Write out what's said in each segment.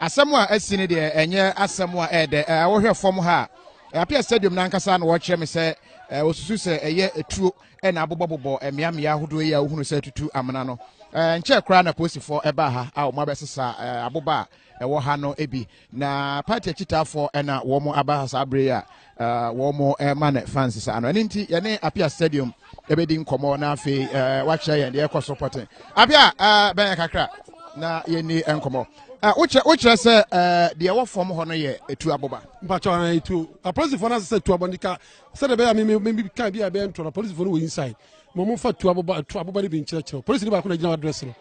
Asɛm a asi no deɛ ɛnyɛ asɛm a ɛyɛ dɛ. Wohwɛ fam ha a, Apia Stadium no ankasa na wɔkyerɛ me sɛ wɔsusu sɛ ɛyɛ tuo na abobɔbobɔ mmeammea ahodoɔ yi a wohunu sɛ tutu amena no. Nkyɛɛ koraa na polisifoɔ ɛbaa ha a wɔabɛsesa aboba a ɛwɔ ha no bi, na party akyitaafoɔ na wɔaba ha saa berɛ yi a uh, wɔn uh, ma ne fans saa no ɛno nti yɛne apia stadium ɛbɛdi nkɔmmɔ na afei uh, wakyerɛ yɛn deɛ ɛkɔ so pɔten apia uh, bɛyɛ kakra na yɛnni nkɔmmɔ uh, wokyerɛ wokyerɛ sɛ uh, deɛ ɛwɔ fam hɔ no yɛ ɛtu aboba mpakyɛ ɔna ɛtuo apolisifoɔ no asɛ sɛ tu abɔ ndika sɛdeɛ bɛyɛ a meme ka bi a ɛbɛyɛ ntorɔ apolisifoɔ no wɔ inside mo mo fa tu aboba tu aboba ne bi nkyerɛkyerɛ polisini baako na gyina wadrɛs no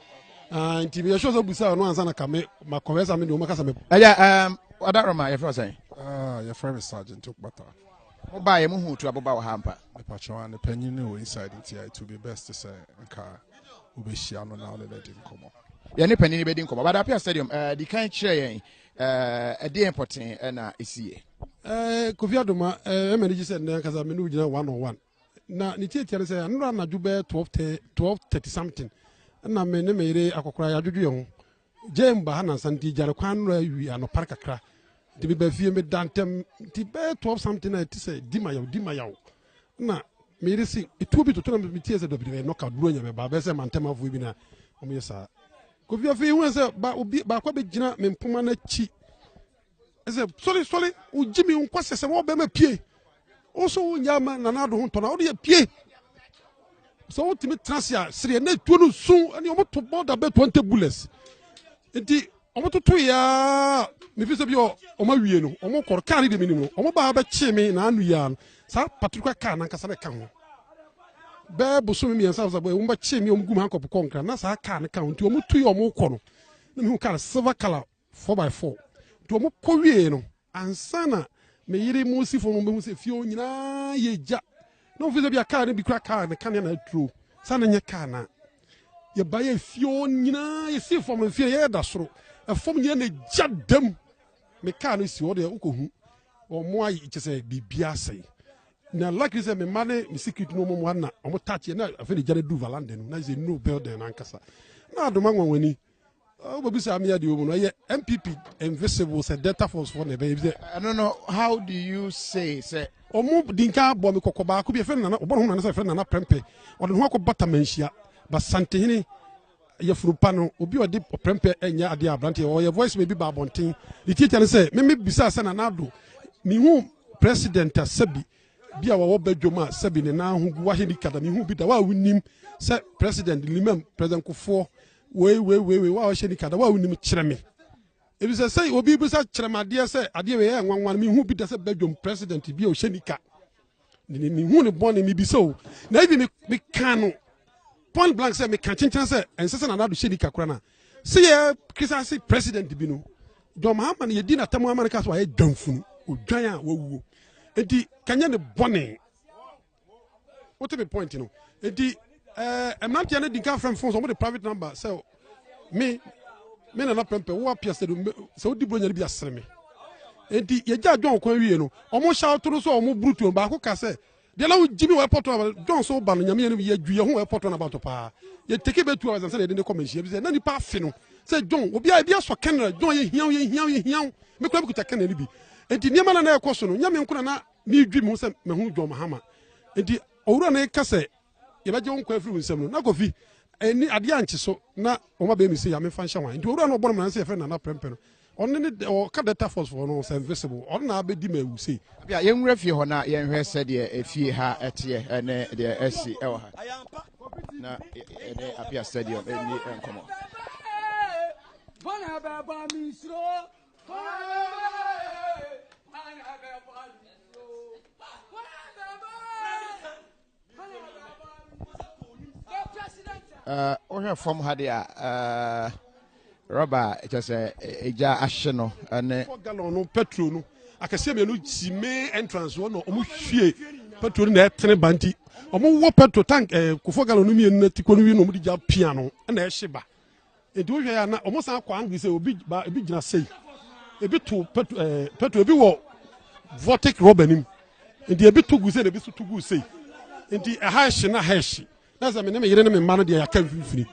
ah, nti meyɛ sure sɛ wobusa ɔno ansa na ka me makɔhwɛ sɛ me deɛ ɔmaka sɛ me ɛyɛ um, ɔdaroma yɛfrɛ sɛn ah, yɛfrɛ me sergeant okpata mobaeɛ mohu tu aboba wɔ ha mpa mepakyɛwa ne panyin ne wɔ inside nti it will be best sɛ nka wobɛhyia no na wone no adi nkɔmmɔ yɛne panyin bɛdi nkɔmmɔ badapia stadium uh, di kan kyerɛ yɛn uh, ɛdeɛ mpɔten na ɛsiiɛ uh, kofi adoma uh, ɛma no gye sɛ nnɛ ankasa me ne wogyina one on one na ne tiatia no sɛ anora anadwo bɛyɛ 12:30 something na me ne me yere akɔkora yɛadwodwo yɛn ho gyae mu ba ha nansa nti gyare kwan anora awi anɔpare kakra nti meba fie meda ntɛm nti bɛyɛ 12 something a ɛte sɛ di ma yaw di ma yaw na me yere se etuo bi toto na metie sɛ dɔbidɔbi ɛnɔ ka duro nya mɛba bɛyɛ sɛ mantɛmafoɔ bi na wɔyɛ saa kofi afei hu sɛ baako bɛgyina me mpoma no akyi ɛsɛ sɔre sɔre o jimi o nkwasɛ sɛ wɔn bɛrima pie o so o nya ama nana ado ho ntɔn a o de yɛ pie sɛ o tumi tena se a sereɛ na etuo no sun ɛni wɔn to more than bɛ twenty bullets nti wɔn toto yaa mefi sɛ bi ɔ wɔn awie no wɔn kɔrɔ kaa ne de mi nim no wɔn baa bɛ kye mi na anu yaa no saa patrika kaa na nkasa bɛ ka ho bɛɛ bosomi mmiɛnsa sɛ wɔn bɛ kye mi wɔn gu mu ankɔ pokɔ nkira na saa kaa ne ka ho nti wɔn tu yɛ wɔn kɔ no na mi hu kaa silver colour Four by four. Nti wɔn kɔ wiee no, ansa na me yere Musifo no behu sɛ fie hɔ nyinaa yɛ gya. Na wɔn fi sɛ bi a kaa no bi kura kaa ne kanea na aturo. Saa na nyɛ kaa na. Yɛ ba yɛ fie hɔ nyinaa yɛ si fam no fie no yɛ da soro. Ɛfam nyinaa na gya dam. Me kaa no si hɔ deɛ wokɔ hu. Wɔn ayɛ kyɛ sɛ biribi asɛe. Na luckily sɛ me mma ne me security no wɔn anna wɔn touch yɛ na afei na gya no duru valanda no na sɛ new building no ankasa. Na adoma nwanwani. wobɛbisa me adeɛ wɔ mu no ɛyɛ mpp invisible sɛ delta force foɔ na ɛbɛyɛ sɛ ɛno no how do you say sɛ ɔmo dinka bɔ me kɔkɔ baako bi ɛfɛ nana ɔbɔ ne ho nana sɛ ɛfɛ nana prɛmpɛ ɔde ne ho akɔ bata manhyia basantehene yɛfurupa no obi ɔde ɔprɛmpɛ ɛnyɛ adeɛ aberanteɛ ɔyɛ voice ma bi ba abɔnten ne tiatia ne sɛ meme bisa sɛ nana ado mehu president a sɛbi bi a wɔwɔ badwam a sɛbi ne nan ho gu wahye ne kada mehu bi da wa wonim sɛ president limam president kofoɔ wei wei wei wei wa ɔhyɛ nika da wa wonim kyerɛ me ebi sɛ sɛ obi bi sɛ kyerɛ me adeɛ sɛ adeɛ wei yɛ nwanwa me hu bi da sɛ bedwom president bi a ɔhyɛ nika ne me hu ne bɔne me bi sɛ o na ebi me me kan no point blank sɛ me kan kyenkyen sɛ ɛnsɛ sɛ nana do hyɛ nika kora na sɛ yɛ kisa se president bi no John Mahama no yɛdi n'atam ama no ka so ayɛ dwanfunu odwan a wawuo enti kanyɛ ne bɔne wote me point no nti eh, mmeranteɛ no di nka frɛ m fon sɛ ɔmode private number sɛ me me nana pɛmpɛ wo apia sɛ sɛ wodi buronya no bi asere me nti yɛgya john kwan wie no ɔmo hyɛ awoto no so a ɔmo burutuo baako ka sɛ deɛ na wogye me wɔ airport no john so ba no nyame yɛ no yɛdwu yɛ ho airport no abato paa yɛteke bɛ tu awɛsɛ sɛ yɛde ne kɔ manhyia bi sɛ na nipa afe no sɛ john obi a ebi asɔ kɛnɛra john yɛhiaw yɛhiaw yɛhiaw me kora mekuta kɛnɛ no bi nti nneɛma na na ɛkɔ so no nyame nkona na Meredwi me ho sɛ mahu John Mahama. Enti Owura no reka sɛ yɛbɛgye wo nkwa afiri wo nsam no, na Kofi anni adeɛ ankye so na wɔabɛn no sei a, memfa nhyɛ hwan? Enti Owura no a ɔbɔ no mmara no sɛ yɛfrɛ no Nana Prɛmpɛ no, ɔno ne dɛ, ɔka Delta Force foɔ no sɛ invisible, ɔno na abɛdi me awu sei. Apia, yɛnwura fie hɔ na yɛnhwɛ sɛdeɛ fie ha teɛ ne deɛ asi wɔ ha na yɛne Apia Stadium nni nkɔmmɔ. Eh, wohwɛ fam ha deɛ eh, rɔba a ɛkyɛ sɛ ɛgya eh, ahye no ne galon no petro no akɛseɛ mmienu si main entrance hɔ na ɔmo hwie petro no na ɛtene ba nti ɔmo wɔ petro tank ɛɛ kofo galon no mmienu na ti kɔ no wi na ɔmo de gya pia no ɛna ɛhye ba Enti wo hwɛ a na ɔmo san kɔ angry sɛ obi ba ebi gyina sei ebi to petrol ɛɛ eh, petrol ebi wɔ vortic rubber nim nti ebi to gu sei na ebi so to gu sei nti ɛha ɛhye na ɛha ɛhye na sɛ me ne me yere ne me mma no deɛ yɛaka mfimfini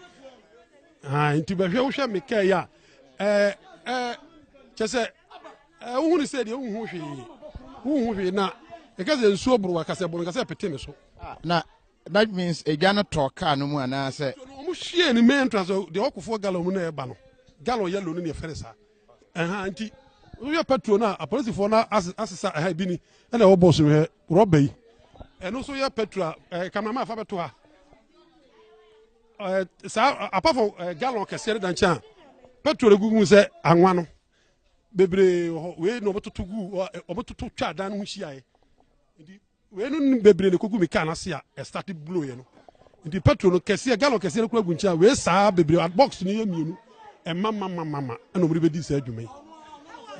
aa nti bɛhwɛ wohwɛ me kaa yi a ɛɛ ɛɛ kyɛ sɛ ɛɛ wohu ne sɛ deɛ wohu hwee wohu hwee na ɛka sɛ nsuo boro akasɛ boro nkasɛ pete me so. Ah, na That means edwa no tɔɔ kaa no mu anaasɛ? So no wɔn hwie ne main entrance hɔ deɛ ɔkofo gallon mu na ɛba no gallon yellow no na yɛfɛ ne saa ɛha nti woyɛ petrol no a apolisifoɔ no asesa ɛha ebi ni ɛna ɛwɔ bɔs no hɛ rɔba yi ɛno nso yɛ petrol a ɛɛ kameraman afa bɛto ha ɛɛ saa apafo ɛɛ gallon kɛseɛ no da nkyɛn a petrol egu mu sɛ anwa no bebree wɔ hɔ wei na wɔtoto gu wɔtoto twa adan no ho hyia yɛ. Wei no nim bebree ne kogu me car n'ase a ɛstarte blow yɛ no nti petrol no kɛseɛ gallon kɛseɛ no kura gu nkyɛn a wei saa bebree box no yɛ mmienu ɛma ma ma ma ma ɛna wɔn de bɛdi saa adwuma yi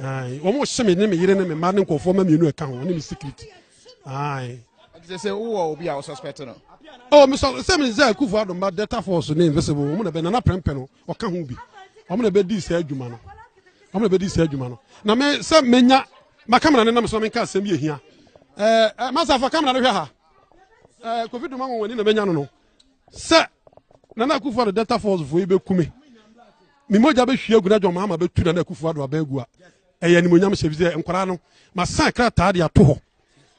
ayi wɔn hyɛ me ne me yere ne me mma ne nkɔfoɔ ma mmienu ɛka ho ne me security ayi. ɛti sɛ wowɔ obi a wɔsuspect no. ɔ oh, mesɔ sɛ me sɛ kufu adomba delta force ne invisible wɔn na bɛ nana pɛmpɛ no ɔka ho bi wɔn na bɛdii saa adwuma no wɔn na bɛdii saa adwuma no na me sɛ menya ma kamera no nam so na menka asɛm bi ɛhia ɛɛ eh, eh, masafa kamera no hwɛ ha ɛɛ eh, kofi duma wɔn ani na menya no no sɛ nana akufo ado delta force fo yi bɛkume ne mogya bɛhwie agu na dwɔn mahama bɛtu nana akufo ado abɛn agu a ɛyɛ animonyam hyɛ bi sɛ nkwaraa no masan krataa de ato hɔ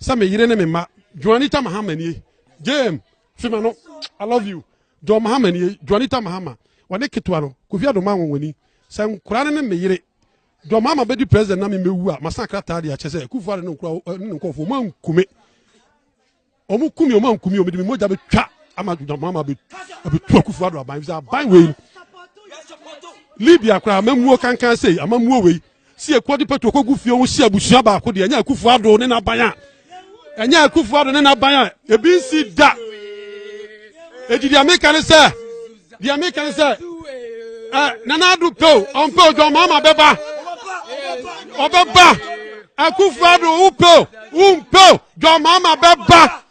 sɛ me yere ne me mma dwɔn anita mahama nie gyem fi ma no i love you john mahama nie johnita mahama wɔne ketewa no kofi adoma anwonwani sɛ nkora no ne ne yere john mahama bɛdi president na memmɛwu a masan krataa de akyɛ sɛ kufu ade ne nkɔfoɔ ɔma nkume ɔmo kumi ɔma nkumi ɔmo de me mogya bɛtwa ama john mahama abɛtu akufu ado aban sɛ aban wei libya koraa amamuo kankan sei amamuo wei Si ekuo de pɛto kɔ gu fie ho si abusua baako deɛ ɛnyɛ akufo ado ne n'aban a ɛnyɛ akufo ado ne n'aban a ebi nsi da eti deɛ meka ne sɛ deɛ meka ne sɛ ɛ nana ado pɛ o ɔmpɛ o dɔn mama bɛba ɔbɛba akufo ado wopɛ o wompɛ o dɔn mama bɛba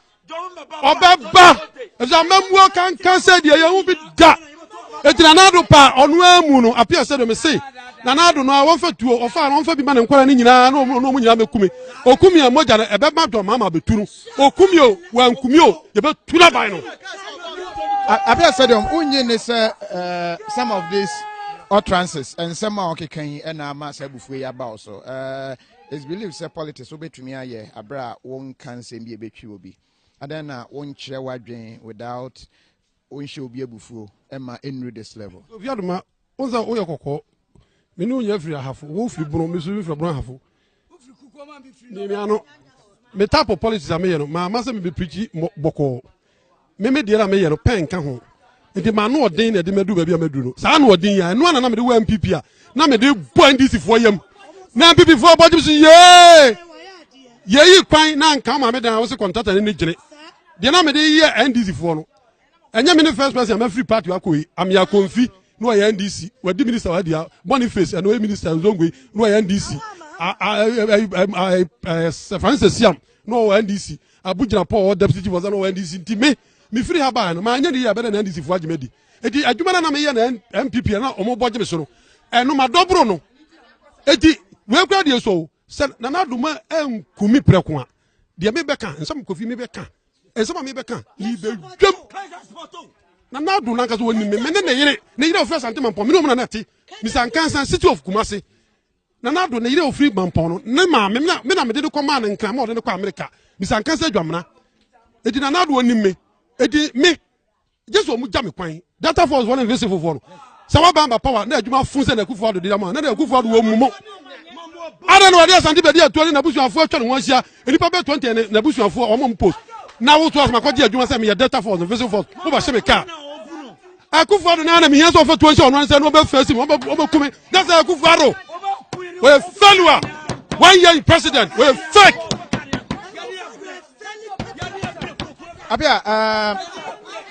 ɔbɛba ɛfisɛ amammuo kankan sɛ deɛ yɛn ho bi da eti na n'ado pa ɔno amu no apia sɛ dɛm se na n'ado no a wɔnfa tuo ɔfa no ɔnfa bi ma ne nkɔla ne nyinaa na ɔmo ɔmo nyinaa bɛkumi okumi a mogya no ɛbɛma dɔm ama abɛtu no okumi o wankumi o yɛbɛtu n'aban no. apia sɛ dɛm wonye ne sɛ eh, some of these utterances nsɛm a ɔkeka yi ɛna ama sɛ abufuo yi aba wo so eh, It's believed sɛ politics wobɛtumi ayɛ aberɛ a wonka nsɛm bi a ɛbɛtwi obi. Adɛn na wonkyerɛ w'adwen without wonhyɛ obi abufuo ɛma ɛnnuru this level? Sophia Duma, wohu sɛ woyɛ kɔkɔɔ. Me ne wo nyinaa firi Ahafo. Wo firi Bono, me nso mefiri Bono Ahafo. Mmiamia no, me type of politics a meyɛ no, mamma sɛ mebɛpirikyi bɔkɔɔ. Me me deɛ na meyɛ no pɛ nka ho nti m'ano ɔden na ɛde madu baabi a maduru no saa ano ɔden yi a ɛno ana na mede wɔ npp a na mede bɔ ndc foɔ yam na npp foɔ bɔ gyem so yee yɛyi kwan na nka ma me dan a wose kɔntata ne ne gyene deɛ na mede yɛ ndc foɔ no ɛnyɛ me ne first person a mafiri party akɔ yi amea konfi na ɔyɛ ndc wadi minister wadi a bɔne face ɛna ɔyɛ minister nzongo yi na ɔyɛ ndc francis siam na ɔwɔ ndc Abugyirapɔn a ɔwɔ Dapsey Chief Ɔsan no wɔ NDC nti me mefiri ha baeɛ no manyɛ ne yie a ɛbɛdɛ na NDC foɔ agye me adi enti adwuma no a na meyɛ na NPP a na wɔn bɔ gye me so no ɛno madɔ boro no enti wei kura deɛ so sɛ Nana Adoma anku me prɛko a deɛ mebɛka nsɛm kofi mebɛka nsɛm a mebɛka mebɛdwam na n'ado nankasa wɔnim me mene ne yere ne yere a ɔfrɛ asante mampɔ mene ɔmu na na ɛte misankansa city of kumase Nana Addo, ne yere a ofiri Mampɔn no, ne maame na me na mede no kɔmaa no Nkran ma ɔde no kɔɔ Amerika. Bisa Nkansah Adwamena. Enti Nana Addo onim me. Enti me, gye sɛ wɔgya me kwan. Delta Force foɔ ne Vese fofoɔ no, sɛ wɔaba aba power na adwuma fun sɛ na Akufo Addo di ama, na na Akufo Addo wɔ mu mo. Addo na wɔde Asante bɛdi atuo ne n'abusuafoɔ atwa ne ho ahyia. Nnipa bɛyɛ 20 yɛ ne n'abusuafoɔ, wɔn a wɔn post. Na woto asɛm akɔgye adwuma sɛ meyɛ Delta Force no, Vese Force, wobɛhye me kaa. akufo ado na anam hiɛ sɛ ɔfɛ tuo sɛ ɔno ansɛ no ɔbɛfɛ si mu ɔbɛkume na sɛ akufo ado wɔyɛ fɛlua one year in president wɔyɛ fake abia ɛɛ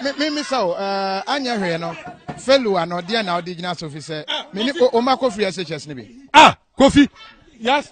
eh, mi mi sɛ o ɛɛ eh, anyɛ hwee no fɛlua no deɛ na ɔde gyina so fi sɛ mini o ma kofi ɛsɛ kyɛs ne bi. ah kofi yes.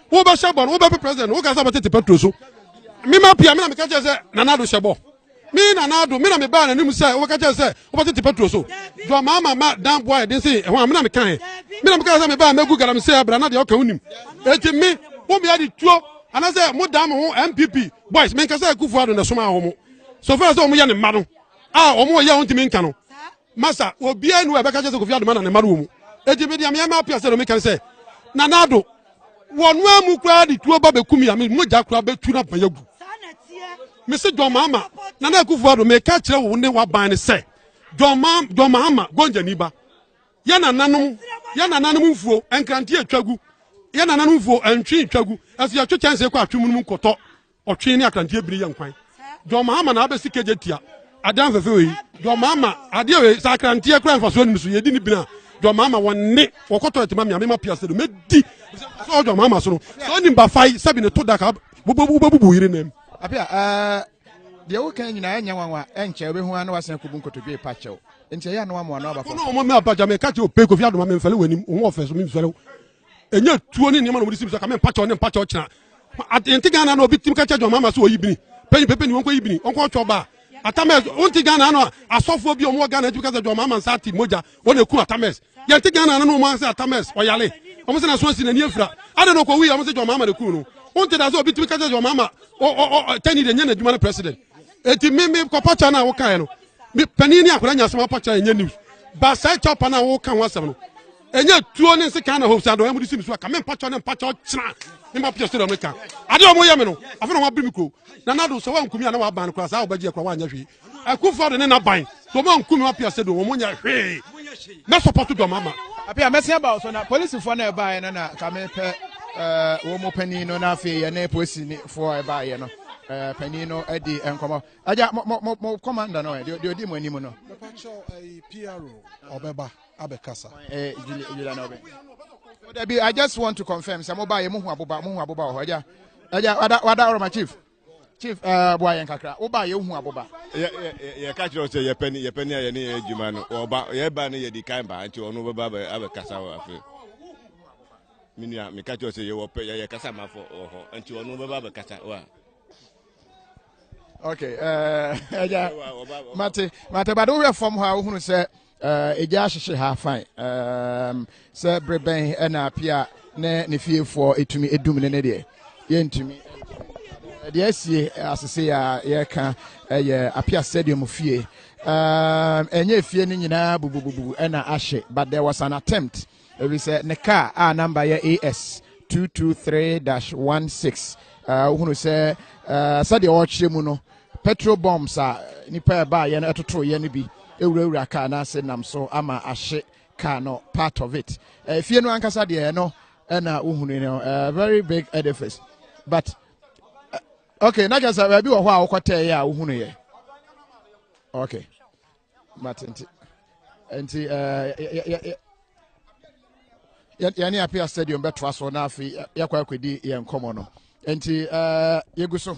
wo bɛ sɛ bɔ no wo bɛ pe president wo ka sɛ bɛ tete petro so mi ma pia mi na mi ka kyerɛ sɛ nana do sɛ bɔ mi nana do mi na mi ba na nim sɛ wo bɛ ka kyerɛ sɛ wo bɛ tete petro so jɔ maa ma ma dan boa yɛ den se ɛho a mi na mi ka yɛ mi na mi ka sɛ mi ba mɛ gu galam sɛ abira na deɛ ɔka wo nim eti mi wo mi adi tuo anasɛ mo dan mo ho npp boys mi nkasa ekufu ado na ɛsoma wɔn so fɛrɛ sɛ wɔn yɛ ne mma no a wɔn yɛ wɔn ti mi nka no. Masa, obiara nni hɔ a ɛbɛka kyerɛ sɛ Kofi Ado ma na ne mma no wɔ mu. Enti me deɛ meyɛ ma apia sɛ no meka sɛ Nana Ado wɔnoa mu koraa de tuo ba bɛku me a me mogya koraa bɛtu na bɛyɛ gu. Mese John Mahama, Nana Akufo Ado meka kyerɛ wo ne waban no sɛ John, Ma, John Mahama gɔngyani ba yɛ nananom yɛ nananom mfuo nkrante atwa gu yɛ nananom mfuo ntwe ntwa gu ɛso yɛtwe kyɛnse kɔ atwe mu no mu nkɔtɔ Ɔtwe ne akranteɛ bini yɛ nkwan. John Mahama na abɛsi kegye tia adan fɛfɛ wei. John Mahama adeɛ wei sɛ akranteɛ kura nfa so anim so yɛdi ne bini a John Mahama wɔn ne wɔkɔ tɔɛt ma mia mema piase do mɛdi sɛ John Mahama so no sɛ ɔnim bafai sɛbi ne to da ka wobɛbubu yere nam. Apia ɛɛ deɛ woka nyinaa ɛnyɛ nwanwa ɛnkyɛ wobɛhu ano wasen akɔbu nkotodwe pa kyɛw nti ɛyɛ ano amoa no aba fam. Ɔno ɔmo mɛ apagya mɛ kakyɛ ope kofi adoma mɛ mfɛle wɔ anim ɔmo ɔfɛ so mɛ mfɛle ɛnyɛ tuo ne nneɛma na wɔde si bi so kame mpakyɛw ne mpakyɛw kyena yɛnte ghana na obi tim ka kyɛ dwama ama so ɔyi bini pɛyi pɛpɛ ni wɔnkɔ yi bini wɔnkɔ ɔtwɔ baa atamɛs wonte ghana no asɔfoɔ bi ɔmo wɔ ghana tumi ka sɛ dwama ama nsa ate mogya wɔn na eku atamɛs yɛnte ghana no ɔmo asɛ atamɛs ɔyale ɔmo sɛ na so asi n'ani afira ada na ɔkɔ wuyi ɔmo sɛ dwama ama na eku no wonte da sɛ obi tumi ka kyɛ dwama ama ɔ ɔ ɔ tɛni de nyɛ n'adwuma no president eti mi mi kɔ pɔkyɛ no a wokaeɛ no mi panyin ne akora nya asɛm apɔkyɛ yɛ nyɛ news ba saa ɛkyɛw pa no a woka ho asɛm no ɛnyɛ tuo ne nsekan na hofisa dɔn ɛmu de si mi so aka me mpakyɛw ne mpakyɛw kyena ne mma pia so dɔm ka adeɛ ɔmo yɛ me no afei na ɔmo abiri mi kuro na nado sɛ wankumi a na waban no koraa saa ɔbɛgye ɛkora wanyɛ hwee akufo ado ne naban dɔm ankumi ma pia se do ɔmo nyɛ hwee mɛ sɔpɔto dɔm ama apia mɛsi aba so na polisifoɔ na ɛbaeɛ no na kame pɛ eh, wɔn panin no na afei yɛne polisifoɔ a ɛbaeɛ no eh, panin no adi nkɔmɔ agya mo mo mo kɔmanda no eh, deɛ ɔdi mo anim no. papa kyɛw ɛyi pro ɔbɛba. abɛkasa. Eh, Julia, Julia na ɔbɛ. Oh, Debbie, I just want to confirm. Sɛ mo ba yɛ mo hu aboba, mo hu aboba wɔ hɔ. Ɛgya, ɛgya, wada, wada ɔrɔma chief. Chief, ɛɛ, eh, boa yɛn kakra. Wo ba yɛ hu aboba. Yɛ, yɛ, yɛ ka kyerɛ sɛ yɛpɛ ni, yɛpɛ ni a yɛne yɛ adwuma no. Ɔba, yɛ ba no yɛ di kan ba, nti ɔno bɛba abɛ, abɛkasa wɔ afei. Me nua, me ka kyerɛ sɛ yɛwɔ pɛ, yɛyɛ kasa ma fɔ wɔ hɔ, nti ɔno bɛba abɛkasa wa. Okay, ɛɛ, eh, ɛgya, mate, mate, bade wohwɛ fam hɔ a wohunu sɛ Eh, egya ahyehye ha fine um, sɛ bere bɛn ɛna apia ne ne fiefoɔ ɛtumi ɛdum ne ne deɛ yɛntumi deɛ asie asese a yɛka ɛyɛ apia stadium fie ɛnyɛ fie no nyinaa bubububu ɛna ahye but there was an attempt Efisɛ ne kaa a namba yɛ AS 223-16 wohunu sɛ sɛdeɛ ɔrekyerɛ mu no, petrol bombs a nnipa a ɛbaeɛ no ɛtotoeɛ no bi awurawura kaa no ase nam so ama ahye kaa no part of it. Efie no ankasa deɛ ɛno ɛna wohunu no a very big edifice but okay na kyerɛ sɛ baabi wɔ hɔ a wokɔtɛeɛ a wohunuiɛ okay mate nti nti yɛne apia stadium bɛtoa so na afei yɛkɔ akɔdi yɛn nkɔmmɔ no nti yɛgu so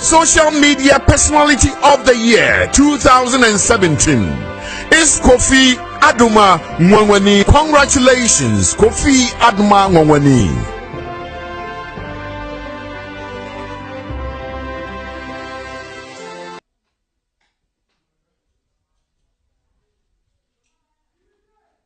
Social Media Personality of the Year 2017 is Kofi Aduma Nwangwani. Congratulations, Kofi Aduma Nwangwani.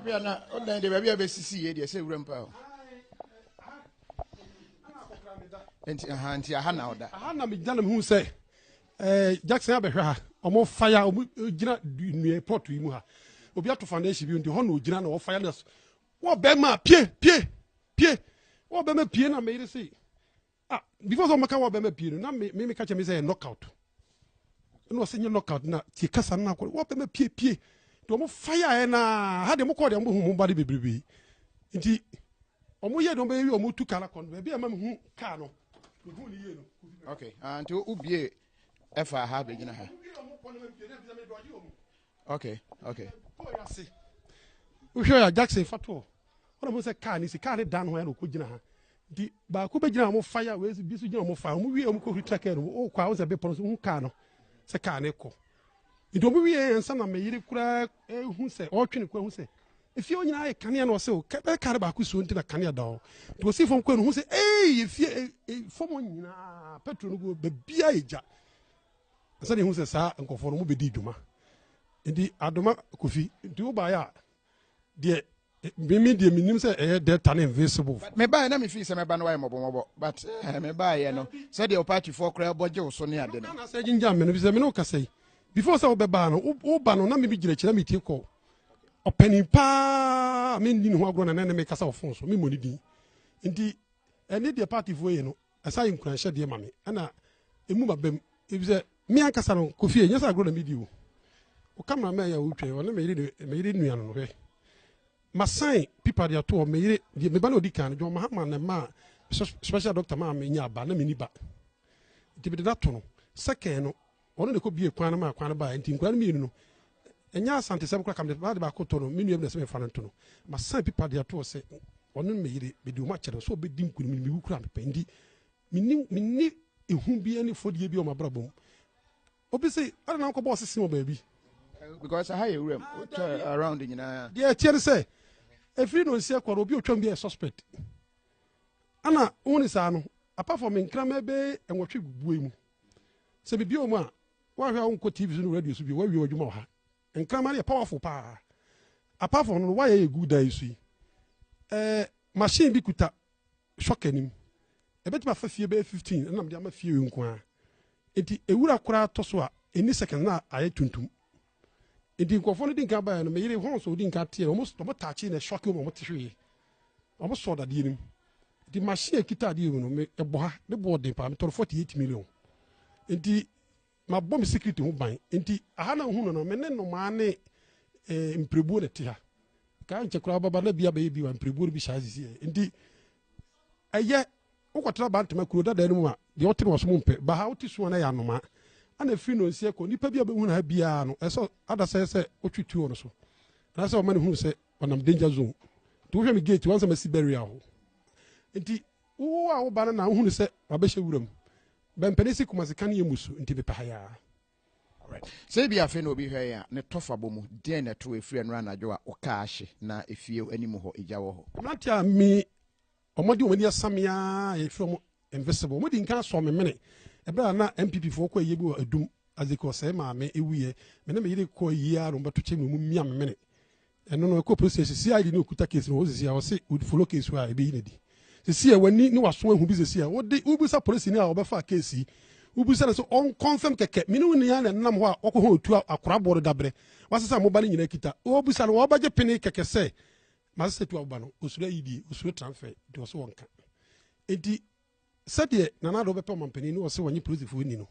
abia na ɔdan de baabi a bɛsisi yɛ deɛ sɛ wura mpa o nti aha nti aha na ɔda aha na megyina na mehu sɛ Eh, Jackson abɛhwɛ ha. Ɔmo faya, ɔmo gyina nnua plot yi mu ha. Obi ato foundation bi nti hɔ na ogyina na ɔfaya na wɔ bɛma pie pie pie wɔ bɛma pie na meyere se ah before sɛ ɔmɛka wɔ bɛma pie no na me me ka kyɛ me sɛ yɛ knockout na ɔsɛ nyɛ knockout na tie kasa no akɔ wɔ bɛma pie pie de ɔmo faya ɛ na ha de ɔmo kɔɔ de ɔmo ho mo ba de bebrebe nti ɔmo yɛ de ɔmo yɛ wi ɔmo tu kala kɔn baabi a ɛma me hu kaa no okay ah nti wo bie ɛfa ha bɛgyina ha okay okay wohwɛ a jackson fa toɔ ɔna mo sɛ kaa ne si kaa ne dan ho ɛna ɔkɔ gyina ha nti baako bɛgyina ɔmo fa ya wei bi so gyina ɔmo fa ɔmo wie ɔmo kɔ huri tra kaa no ɔkɔ a wosɛ bepɔ no so hu kaa no sɛ kaa ne kɔ Enti obi wiee ansa na me yere koraa rehu sɛ, ɔretwe ne kɔn ahu sɛ efie hɔ nyinaa ayɛ kanea na ɔse o, bɛyɛ kar baako suo nti na kanea da hɔ. Nti osii fam kɔe no ohuu sɛ eii efie fam hɔ nyinaa petrol no gu baabiara yɛ gya. Ansa na ehu sɛ saa nkurɔfoɔ no wɔbɛdii dwuma. Enti adoma Kofi, nti wobaeɛ a deɛ Me me deɛ menim sɛ ɛyɛ delta ne invisible. mebaeɛ na mefii sɛ mɛba no wayɛ mmɔbɔmmɔbɔ but eh, mebaeɛ no sɛdeɛ wo paatifoɔ koraa bɔ gye wo so ne ade no sɛ gyingya me no fi sɛ me ne wo kasa yi before sɛ wobɛbaa no woba no na meme gyina akyi na metie kɔ ɔpani paa menni ne ho agorɔ na na ne mekasa wɔ fon so memmɔ ne din nti ɛne deɛ paatifoɔ yɛ no Ɛsa yɛ nkuranhyɛ deɛ ma me ɛna emu ba bɛm ebisɛ me ankasa no kɔ fie nyɛ sɛ agorɔ na medi o wo cameraman yɛ a wotwa ɔne me yere me yere nua no hwɛ masan pipa de ato hɔ me yere deɛ me ba na odi kan no John Mahama na ɛma special doctor maa me nya aba na me ni ba nti mede no ato no second no Ɔno na ɛkɔ bie kwan no maa kwan no baeɛ nti nkura no mmienu no ɛnyɛ asantesɛm koraa kamde baade baako to no me nua bi na sɛ mefa no nto no masan pipa deɛ toɔ sɛ ɔno ne meyere mede ɔma kyɛ no sɛ ɔbɛdi nkunim no mewu koraa mepɛ nti menni menni ehu bi ne fɔdie bi wɔ mabrabɔ mu obi se ɛna na nkɔbɔ ɔsese wɔ baabi because aha yɛ wuram wotwa around nyinaa deɛ ɛteɛ no sɛ ɛfiri no nseɛ kɔrɔ obi ɔtwam bi yɛ suspect ana wo ne saa no apart from nkrama bɛɛ nwɔtwe bue mu Sɛ biribi wɔ mu a, woahwɛ a wonkɔ TV so ne radio so bio, woawie w'adwuma wɔ ha. Nkraman no yɛ powerful paa. Apart from no, wire yɛ gu dan yi so yi, eh, machine bi kuta shock anim. Ɛbɛtumi afa fie bɛyɛ 15 ɛnam de ama fie wei nko ara. Enti ewura koraa tɔ so a, ɛnni second na ayɛ tuntum. Nti nkurɔfoɔ no di nkan baeɛ no, me yere Horns ɔdi nkan teɛ no, wɔn wɔn taakye na ɛsɔke wɔn a wɔte hwee. Wɔn sɔɔ dadeɛ no mu. Nti machine a ɛkita adeɛ mu no, me ɛbɔ ha, ne boɔ den paa, metɔ no 48 million. Nti mabɔ me security ho ban. Nti aha na nhu no no, me ne nnomaa ne eh, mpirebuo na ɛte ha. Kaa nkyɛ koraa baba na bi abɛyɛ bi wa mpirebuo no bi saa sisi. Nti ɛyɛ Wokɔtra Bantama kuro dadaa no mu a, deɛ ɔte no ɔsom mpɛ. Ba ha a, wote su a na ɛyɛ anomaa. Ana firi Nonsiɛ kɔ, nnipa biara a ɔbɛhunu ha biara no, ɛsɛ sɛ adasɛɛ sɛ ɔtwe tuo wɔ no so. Anaasɛ ɔma no hunu sɛ ɔnam danger zone. Nti wohwɛ me gate, wansɛ masi barrier hɔ. Nti wo a woba no na wohunu sɛ wabɛhyɛ wuram. Bɛmpɛne si Kumasi ka ne yɛ mmusu, nti mepɛ ha yi ara. Alright. Sɛ ebia afei na obi hwɛ yɛn a, ne tɔfa bɔ mu. Deɛn na ɛto wo? Ɛfiri ɛnnora anadwo a wo car ahye na efie anim hɔ, egya wɔ hɔ. Mmeranteɛ a me Wɔde wɔn ani asam me ara a yɛfrɛ wɔn invisible. Wɔdi nkan asɔ me mene. Ɛberɛ a na NPP foɔ kɔ ayie bi wɔ Adum, Azeke ɔsɛe maame wuiɛ. Me ne me yere kɔ ayie ara na wɔbɛto kyɛ mu na wɔmia me mene. Ɛno no ɛkɔɔ police station, CID no ɔkuta case no wɔ hɔ seesei a, ɔse ɔde follow case hɔ a ɛbɛyi no adi. Seesei a w'ani ne w'aso ahu bi seesei a, wode wobisa polisini a ɔbɛfaa case yi, wobisa no sɛ ɔnconfirm kɛkɛ, me ne wo nyinaa na ɛnenam hɔ a wɔkɔhɔn ɔtuo a akoraboɔ no dabrɛ, wasesa moba no nyinaa kita, wobisa no ɔbɛgye pene kɛkɛ sɛ Na sɛ Sɛtu aba no, osuro ayidie, osuro transfer nti ɔse wɔnka. Nti sɛdeɛ Nana Addo bɛpɛ ɔmanpanin na ɔse wɔnye polisifoɔ nni no,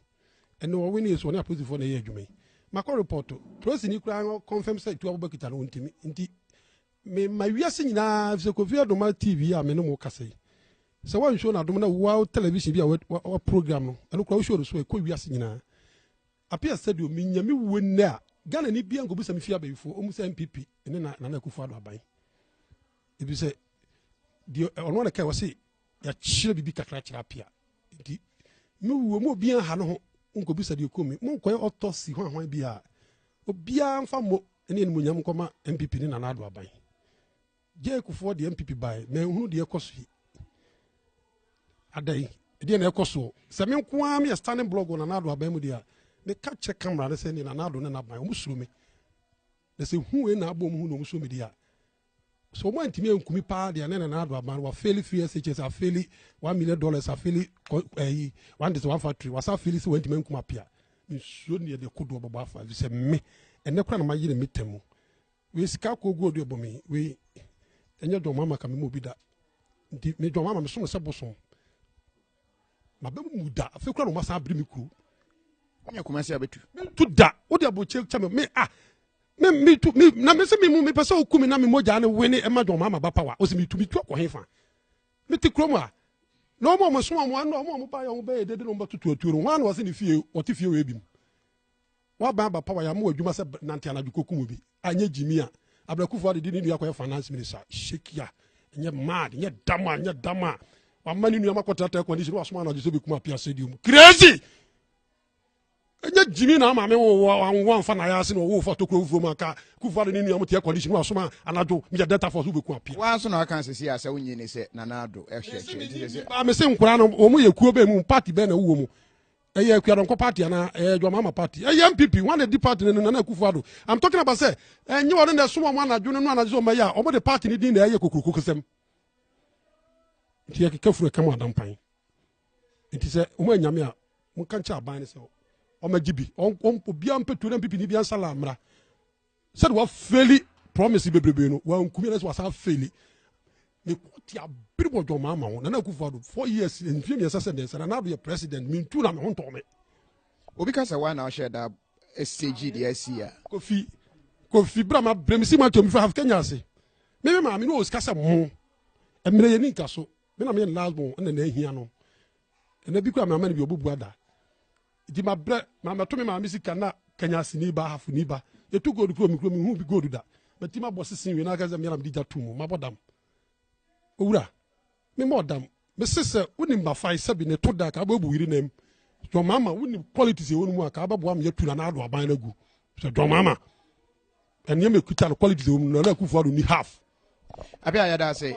ɛnna ɔwinee so ɔne apolisifoɔ na ɛyɛ adwuma yi. Makɔ report, polisini koraa confirm sɛ Sɛtu Abubakar kita no, ɔntumi. Nti mema wiase nyinaa, efisɛ Kofi Adoma TV a me ne mo kasa yi, sɛ wɔn show no adom na World Television bi a wɔn program no, ɛno koraa wo show no so a, ɛkɔ wiase nyinaa. Appiah said o menya me wuo nnɛ a Ghana ni biaa nkɔbisa me fie abayifoɔ ɔmu sɛ NPP ne na Nana Akufo Addo aban ɛfiri sɛ deɛ ɔno ana kae wɔse yɛakyerɛ biribi kakra kyerɛ Appiah nti me wuo mu obiaa ha no ho nkɔbisa deɛ ɛkɔ mi monkɔyɛ autopsy ho ahwan biaa obiaa mfa mmɔ ne animonyam nkɔma NPP ne Nana Addo aban Jake foɔ deɛ MPP bae na nhunu deɛ ɛkɔ so yi adɛn ɛdeɛ na ɛkɔ soɔ sɛ me nko ara meyɛ standing blog wɔ Nana Addo aban mu deɛ a meka kyerɛ camera no sɛ ne Nana Addo ne n'aban wɔn suro me na sɛ hu wei na abɔ wɔn hu na wɔn suro me deɛ a so wɔn antumi ankumi paa deɛ ne Nana Addo aban wafeeli three SHS afeeli one million dollars afeeli ɛyi one district one factory wasa afeeli sɛ wɔn antumi ankumi apia nsuo ne yɛde kodoɔ bɛbɔ afa sɛ me ɛnɛ kora na ma yere me tɛm mu Wei sika kɔ gu ɔde ɔbɔ me wei ɛnyɛ dɔm ama ka me mu bi da nti me dɔm ama me som sɛ bosom ma bɛ mu da afei kura na ɔma san abiri me kuro ɔnyɛ kɔma se abɛtu mentu da wode abɔkyɛ kyɛ me me a me me tu me na me se me mu me pɛ sɛ oku me na me mogya ne wene ɛma dɔm ama ba pawa ɔsɛ me tu me tu akɔ hefa me te kurom a na ɔmo ɔmo som ɔmo ano ɔmo ɔmo ba yɛ ɔmo bɛyɛ dede na ɔmo bɛtoto atuo no wɔn ano ɔsɛ ne fie ɔte fie wɔ ebi mu waba aba power yɛ ama w'adwuma sɛ nante anadwo kɔkum obi anyɛ gyimi a abrɛkufo ade de ne nua kɔyɛ finance minister shekia nyɛ mad nyɛ dama nyɛ dama wama ne nua makɔtrata air condition wasoma anadwo sɛ bɛkum apia stadium crazy ɛnyɛ gyimi na ama me wowɔ anwo amfa na ayɛase na ɔwofo atokuro wofuo mu anka kufo ade ne nua mo te air condition wasoma anadwo meyɛ delta force wobɛkum apia waa so na aka sɛsi a sɛ wonyi ne sɛ nana ado ɛhwɛ kyerɛ mese nkora no wɔn yɛ kuo bɛn mu party bɛn na wowɔ mu ɛyɛ akuadɔnkɔ party anaa ɛyɛ adwamama party ɛyɛ npp wɔn na di party no nana akufo ado i'm talking about sɛ ɛnyɛ wɔn na ɛsom wɔn anadwo no no anadwo sɛ wɔn bɛyɛ a wɔn de party no din na ɛyɛ kokurokoko sɛm nti yɛ keka furu ɛkɛm adampan nti sɛ wɔn anyame a wɔn kankyɛ aban no sɛ wɔn agye bi wɔn obiara mpɛtuo na npp ni bi ansa la amra sɛde wafeli promise bebrebe no wankumi anasɛ wasan afeli ne kɔte abere wɔ dwɔma ama wo nana akufo ado four years mfie mmiɛnsa sɛ mmiɛnsa nana ado yɛ president mentu na me ho ntɔme obi ka sɛ wa na ɔhyɛ da stage deɛ asi a kofi kofi bra ma brɛ me si ma twam fa kenya ase me me maame ne ɔsika sɛ mo mmerɛ yɛ ne nka so me na meyɛ ne last born ɛna na ahia no Ɛna bi kura mama ne bi obu bua da. Nti ma brɛ ma mɛto me maame sika na kanya asini ba hafo ni ba. Yɛtu gold kuro me kuro me hu bi gold da. Mɛti ma bɔ sisi wie na aka sɛ mmeram di gya to mu ma bɔ dam. Owura me mɔ dam me se sɛ wonim ba fae sɛbi ne to da ka abɛbu yiri nam. John Mama wonim qualities ɛwɔ no mu a ka abɛboa me yɛtu na na ado aban no agu. Sɛ John Mama. Nneɛma ekuta no qualities wɔ mu Nana Akufo Addo ni half. Apia yɛda ase.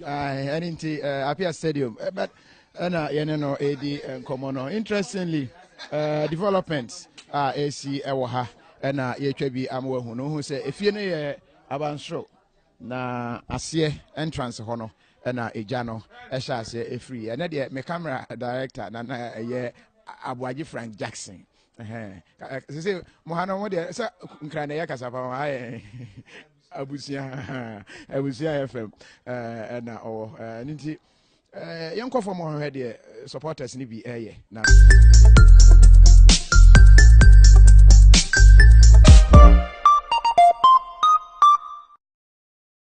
Ɛne nti eh, Apia Stadium eh, but ɛna eh, yɛne no ɛredi nkɔmmɔ no. Interestingly, uh, development a uh, ɛsi ɛwɔ ha ɛna yɛtwa bi ama wahu no. Wohu sɛ efie no yɛ abansoro na aseɛ entrance hɔ no ɛna egya no ɛhyɛ aseɛ efiri. Ɛnɛ deɛ me camera director na na ɛyɛ Aboagye Frank Jackson. sese mo ha no mo deɛ sɛ nkran na ɛyɛ kasa pa ha yɛ abusua abusua yɛ fam ɛna ɔwɔ ɛno nti yɛnkɔ fam ɔhwɛ deɛ supporters no bi ɛyɛ na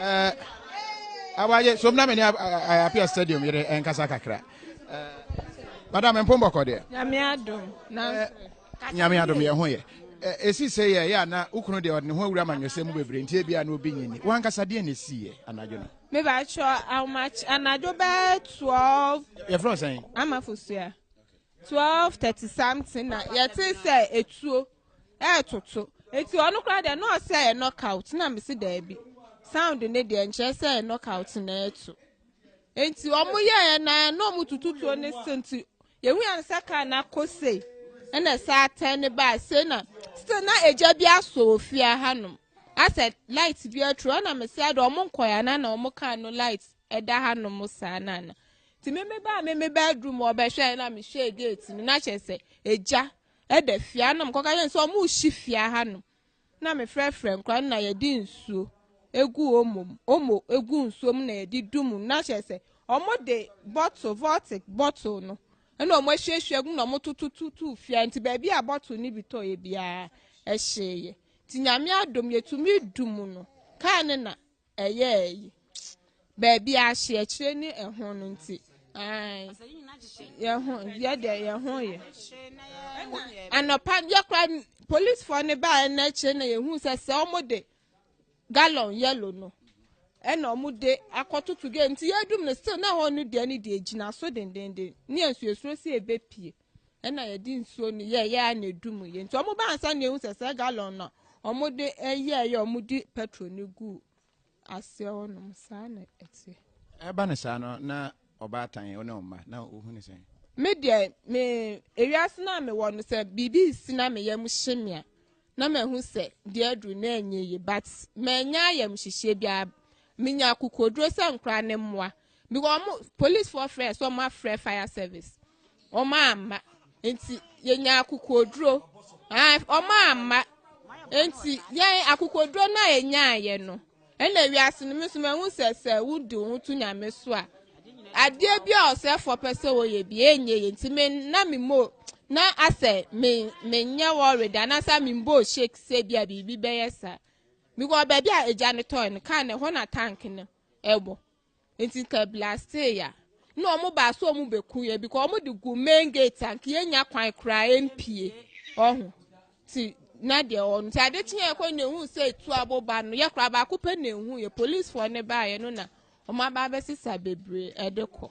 eh, awaye so na me ne apia stadium yere ɛnkasa kakra eh, madam mpo mbɔkɔ deɛ nyame adom eh, nyame adom yɛ ho yɛ ɛsi sɛ yɛ yɛ ana wokunu deɛ ɔde ne ho awura ma nwɛsɛ mu bebree nti ebia na obi nyini wankasa deɛ na ɛsiiɛ anadwo no mebakyɛ anadwo bɛɛ 12 yɛfrɛ sɛn amafosua 12 30 something na yɛte sɛ ɛtuo ɛɛtoto eti ɔno koraa deɛ na ɔsɛ ɛyɛ knockout na mesi daabi sound ne deɛ nkyerɛ sɛ ɛyɛ knockout na ɛɛto eti ɔmo yɛɛ na na ɔmo tututuo ne so nti yehu yɛn sɛ kaa na kɔ sei ɛna sɛ atɛn ne baa sei na still na egya bi asɔ wɔ fie ahanom asɛ light bi aturo ɛna mesi adi ɔmo nkɔ ya na na ɔmo kaa no light ɛda hanom saa na na ti mimi baa mimi baa dum ɔbɛhwɛ ɛna mehwɛ gate no na kyerɛ sɛ egya. da fie ha na wɔkɔka kyerɛ no sɛ wɔrehye fie ha no na mefrɛfrɛ nkora no na yɛde nsuo egu omo omo egu nsuo mu na yɛde du mu na kyerɛ sɛ wɔde bottle vortic bottle no ɛna wɔn ahyiahyia gu na wɔtotototo fia nti baabi a bottle no bi tɔ yɛ biara ɛhyeeɛ nti nyame adom yɛtumi du mu no kaa ne na ɛyɛɛ yi. Baabi a ahyeɛkyerɛ ne ɛho no nti. Yɛho yɛ deɛ yɛho yɛ. Anɔpa yɛ kora polisifoɔ no baa ɛna akyire na yɛhu sɛ sɛ wɔn de gallon yellow no ɛna wɔn de akɔtoto gate nti yɛdum no still na ɛhɔ no deɛ ne deɛ gyina so dendenden ne nsuo esuro si ebepie. Ɛna yɛde nsuo no yɛɛyɛ ara na edu mu yɛ nti wɔn baa nsa na ehu sɛ saa gallon na wɔn de yɛɛyɛ wɔn de petrol no gu aseɛ hɔ nom saa na ɛteɛ. Ɛba ne saa no na ɔbaatan yɛ ɔne ɔmma na ohu ne sɛn. Me deɛ me ewiase na me wɔ no sɛ biribi si na me yam hye me a na ma ehu sɛ deɛ aduru na ɛnyɛ yie but mɛ nya ayam hyehyeɛ biara menya akokoduro sɛ nkora ne mmoa. because ɔmo police foɔ frɛ sɛ ɔmo afrɛ fire service ɔmo amma nti yɛnya akokoduro ah, ɔmo amma nti yɛn akokoduro no a yɛnyaayɛ no ɛna wiase no mi nso mahu sɛ sɛ wodi wo ho to nyame so a adeɛ bi a ɔsɛfoɔ pɛ sɛ wɔyɛ bi ɛnyɛ yɛ nti me na me mo na asɛ me menyɛ wɔre da na sɛ me mbɔ shake sɛ bi a biribi bɛyɛ saa because baabi a agya no tɔɔ no kaa no ɛhɔ na tank no ɛwɔ. Nti ka blastee ya na ɔmo baa so ɔmo bɛ ku yɛ because ɔmo de gu main gate anka yɛ nya kwan koraa yɛ mpie ɔho ti na deɛ ɔno ti ade kye yɛ kɔ na ehu sɛ etu abo ba no yɛ koraa baako pɛ na ehu yɛ police foɔ ne baa yɛ no na ɔmo aba abɛsesa bebree ɛde kɔ.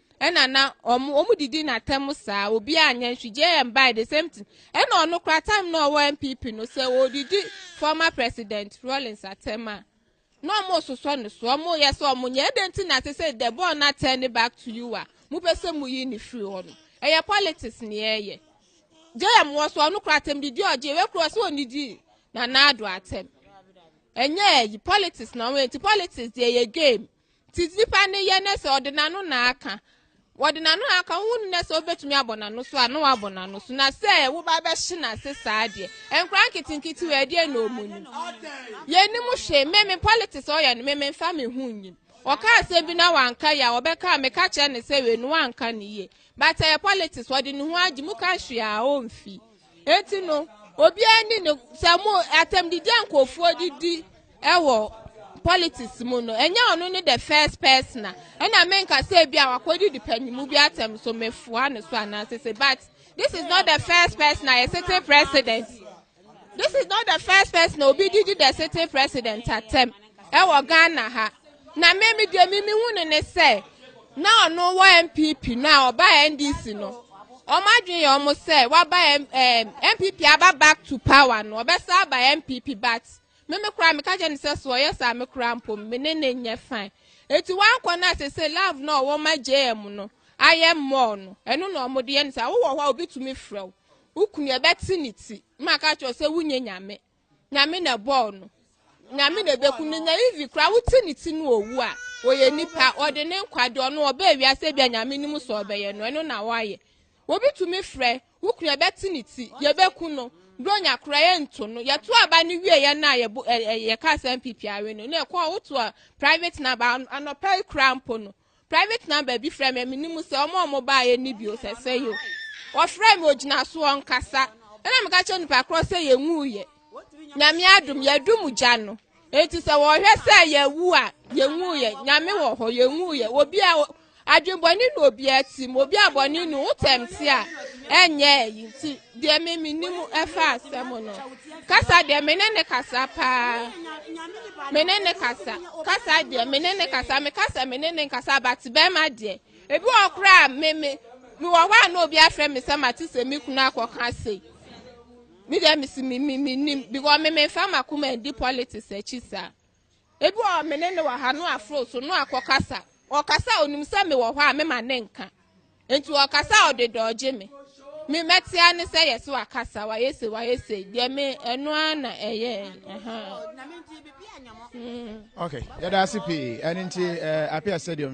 ɛna na ɔmo ɔmo didi n'atɛm saa obi anyɛ nhwe jm by the same thing ɛna ɔno kora time na ɔwɔ npp no sɛ ɔdidi former president rollins atɛm a na ɔmo sosɔ ne so ɔmo yɛ sɛ ɔmo nyɛ ɛdɛ nti na sɛ sɛ the ball na turn back to you a mo pɛ sɛ mo yi ne firi hɔ no ɛyɛ politics ne ɛyɛ jm wɔ so ɔno kora atɛm didi ɔgye ɛwɛ kora sɛ ɔnidi na naado atɛm ɛnyɛ ɛyi politics na ɔmo yɛ nti politics deɛ yɛ game Ti nipa ne yɛ ne sɛ ɔde n'ano na aka wɔde n'ano na aka wohu ne sɛ wobɛtumi abɔ n'ano so a na wabɔ n'ano so na sɛ woba bɛhye n'ase saa deɛ nkora nketenkete wɔ ɛdeɛ na ɔmu nim yɛnim hwee meme politics ɔyɛ no meme mfa me ho nyim ɔka asɛm bi na wanka yɛ a ɔbɛka a meka kyerɛ ne sɛ wei no wanka ne yie but ɛyɛ politics ɔde ne ho agye mu ka hwee a ɔmfi Enti no, obiara ni no sɛ mo atɛmdidi a nkurɔfoɔ de di wɔ politics mu no, ɛnyɛ ɔno ne the first person a ɛna menka sɛ ebi a wakɔdidi panimu bi atɛm so mefoa no so anaasɛ sɛ but this is not the first person a yɛ sitting president this is not the first person a obi didi the sitting president atɛm. ɛwɔ ghana ha na me me deɛ me mehu no ne sɛ na ɔno wɔ npp no a ɔba ndc no wɔn adwene yɛ wɔn sɛ waba npp aba back to power no ɔbɛsa aba npp but me me koraa meka kyɛ ne sɛ so ɔyɛ saa me koraa mpo me ne ne nyɛ fine eti wankɔ no ase sɛ love no a wɔn ma jm no ayɛ mɔɔ no ɛno na wɔn de yɛ ne saa wowɔ hɔ a obi tumi frɛ wo wokunu ɛbɛte ne ti maka kyerɛ sɛ wonyɛ nyame Nyame na ɛbɔɔ no. Nyame na ɛbɛku no. Nya Ivi koraa wote ne ti no owu a, ɔyɛ nipa, ɔde ne nkwa de ɔno ɔbɛɛ wiase bi a Nyame nim sɛ ɔbɛyɛ no, ɛno na ɔayɛ. Obi tumi frɛ, wo kunu ɛbɛte ne ti, yɛbɛku no. Bronya koraa yɛnto no. Yɛto aba no wie yɛ na yɛka asɛm pipi awe no. Na ɛkɔ a woto a private number anɔpa yi koraa mpo no. Private number bi frɛ me mene mu sɛ ɔmo a ɔmo baayɛ ne bio sɛ sɛ yo wɔfrɛ me ogyina soɔ nkasa ɛna meka kyerɛ nipa korɔ sɛ yɛnwuuyɛ nyame adom yɛadu mu gya no enti sɛ wɔhwɛ sɛ yɛwu a yɛnwuuyɛ nyame wɔ hɔ yɛnwuuyɛ obi a adwenbɔne na obi atim obi a bɔne no wotɛm te a ɛnyɛ ɛyi nti deɛ me menim ɛfa asɛm no kasa deɛ me ne ne kasa paa me ne ne kasa kasa deɛ me ne ne kasa me kasa me ne ne kasa but bɛrima deɛ ebi wɔ koraa me me me wɔ hɔ a na obi afrɛ me sɛ mate sɛ me kunu akɔka se me deɛ me si me me me nim because me me nfa ma kuma di politics akyi saa. Ebi wɔ hɔ a me ne no wɔ ha, no aforo so, no akɔ kasa. Ɔkasa a onim sɛ mewɔ hɔ a mema ne nka. Enti ɔkasa a ɔde dɔ ɔgye me. Me mɛtea ne sɛ yɛse wakasa, wayɛ se, wayɛ sei. Deɛ me ɛno ara na ɛyɛ. Aha. Okay, yɛda ase pii. Ɛno nti, eh, apia stadium